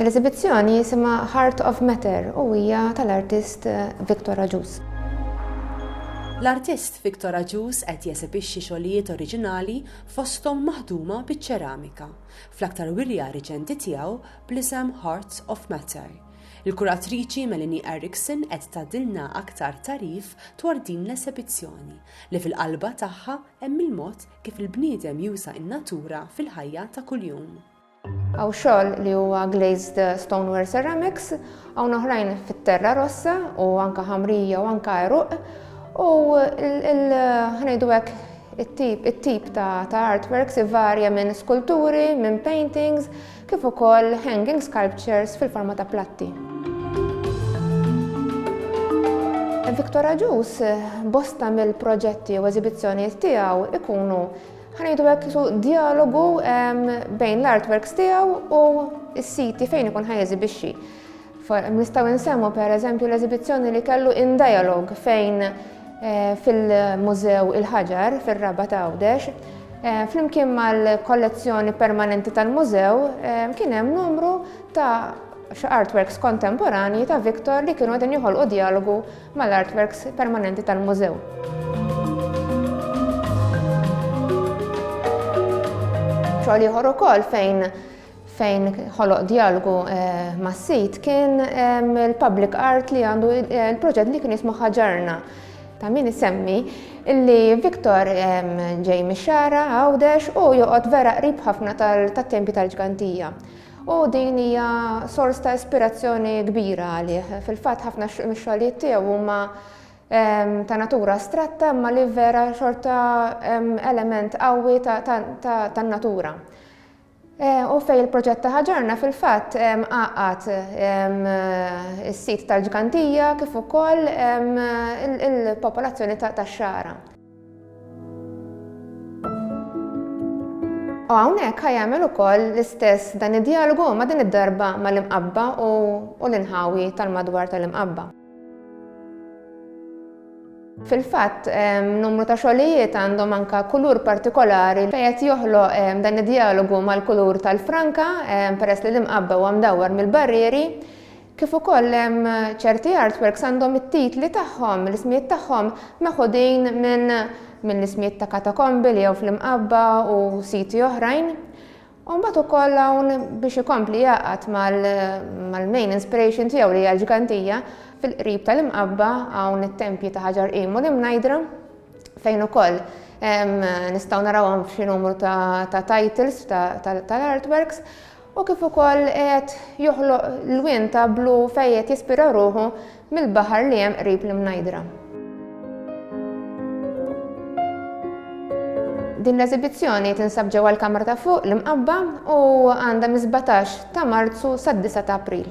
L-eżibizzjoni jisimha Heart of Matter u hija tal-artist Victor Agius. L-artist Victor Agius qed jesebixxi xogħlijiet oriġinali fosthom maħduma biċ-ċeramika, fl-aktar wirja riċenti tiegħu bl-isem Heart of Matter. Il-kuratriċi Melanie Erickson qed tgħaddilna aktar tagħrif dwar din l-esebizzjoni li fil-qalba tagħha hemm il-mod Kif il-bniedem juża n-natura fil-ħajja ta' kuljum. Hawn xogħol li huwa glazed stoneware ceramics, hawn oħrajn fit-terra rossa u anke ħamrija u anke għeruq u ħnejdu hekk it-tip ta' artworks ivarja minn skulturi, minn paintings, kif ukoll hanging sculptures fil-forma ta' platti. Victor Aġus, bosta mill-proġetti u eżibizzjonijiet tiegħu ikunu ħanejdu hekk isu dialogu bejn l-artworks tiegħu u s-siti fejn ikun ħajeżibixxi. Nistgħu insemmu pereżempju l-eżibizzjoni li kellu In Dialogue fejn fil-Mużew il-Ħaġar fir-Raba' ta' Għawdex. Flimkien mal-kollezzjoni permanenti tal-Mużew kien hemm numru ta' artworks kontemporanji ta' Victor li kienu qegħdin joħolqu djalogu mal-artworks permanenti tal-Mużew. Xogħol ieħor ukoll fejn fejn ħoloq djalogu mas-sit kien il-public art li għandu il-proġett li kien jismu ħaġarna ta' min isemmi illi Viktor ġej mix-xara għawdex u joqgħod vera qrib ħafna tat-tempi tal-ġgantija. U din hija sors ta' ispirazzjoni kbira għalih. Fil-fatt ħafna mix-xogħlijiet tiegħu huma ta' natura astratta imma li vera xorta element qawwi tan-natura. U fejn il-proġett ta' Ħaġorna fil-fatt għaqqad is-sit tal-Ġgantija kif ukoll il-popolazzjoni tax-Xagħra. U hawnhekk ħa jagħmel ukoll l-istess dan id-djalogu imma din id-darba mal-Imqabba u l-inħawi tal-madwar tal-Imqabba. Fil-fatt, numru ta' xogħlijiet għandhom anka kulur partikolari fejn qed joħloq dan id-dialogu mal-kulur tal-franka peress li l-imqabba huwa mdawwar mill-barrieri, kif ukoll ċerti artworks għandhom it-titli tagħhom, l-ismijiet tagħhom meħudin minn minn ismijiet ta' katakombi li jew fl-imqabba u siti oħrajn. U mbagħad ukoll hawn biex ikompli jgħaqqad mal-main inspiration tiegħu li hija l-ġgantija, fil-qrib tal-Imqabba hawn it-tempji ta' Ħaġar Qim u l-Imnajdra fejn ukoll nistgħu narawhom f'xi numru ta' titles tal-artworks u kif ukoll qed joħloq lwien ta' blu fejn qed jispira ruħu Mill-baħar li hemm qrib l-Imnajdra. Din l-eżibizzjoni tinsab ġewwa l-Kamra ta' Fuq, l-Imqabba, u għandha mis-sbatax ta' Marzu sad-disa' ta' April.